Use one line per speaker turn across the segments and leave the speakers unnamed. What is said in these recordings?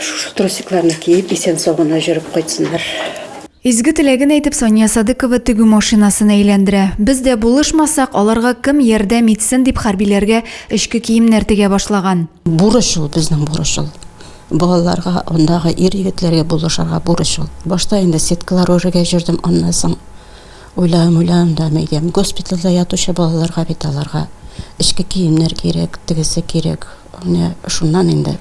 Шушы трусикларны киеп, исән сагына җөреп кайтсыннар. Изге
теләген әйтеп, Сания Садыкова тегү машинасын әйләндерә. Без дә булышмасак, аларга кем ярдәм итсен дип хәрбиләргә эчке киемнәр тегә башлаган. Бурыч ул, безнең
бурыч ул. Балаларга, андагы ир-егетләргә булышырга бурыч ул. Башта инде сеткалар үрергә җөрдем, аннан соң. Уйланам, уйланам да әйдәм, госпитальдә ятучы балаларга бит аларга эчке киемнәр кирәк, тегесе кирәк. Менә шуннан инде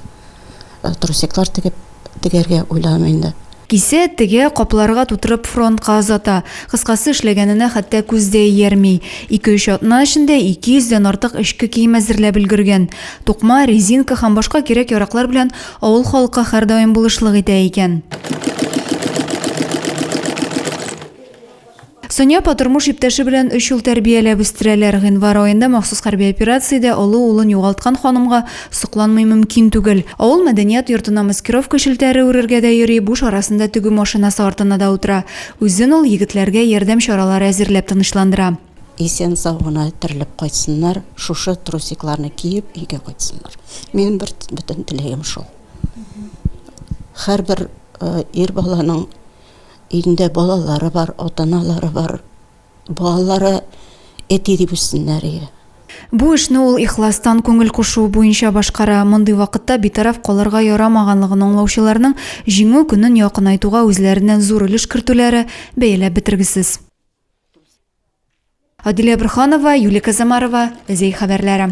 трусиклар тегеп тегәргә уйланам инде. Кисә, тегә,
капларга тутырып фронтка озата. Кыскасы, эшләгәненә хәтта күз дә иярми. Ике-өч атна эчендә ике йөздән артык эчке кием әзерләп өлгергән. Тукма, резинка һәм башка кирәк-яраклар белән авыл халкы һәрдаим булышлык итә икән. Соня апа тормыш иптәше белән өч ел тәрбияләп үстерәләр. Гыйнвар аенда махсус хәрби операциядә олы улын югалткан ханымга сокланмый мөмкин түгел. Авыл мәдәният йортына маскировка челтәре үрергә дә йөри, буш арасында тегү машинасы артына да утыра. Үзен ул егетләргә ярдәм чаралары әзерләп тынычландыра. Исән-сау
гына терелеп кайтсыннар, шушы трусикларны киеп өйгә кайтсыннар. Минем бер бөтен теләгем шул. Һәрбер ир баланың. Өендә балалары бар, атаналары бар. Балалары әти дип үссеннәр иде. Бу
эшне ул ихластан, күңел кушуы буенча башкара. Мондый вакытта битараф калырга ярамаганлыгын аңлаучыларның Җиңү көнен якынайтуга үзләреннән зур өлеш кертүләре, бәяләп бетергесез. Адилә Борһанова, Юлия Казамарова, Зәй хәбәрләре.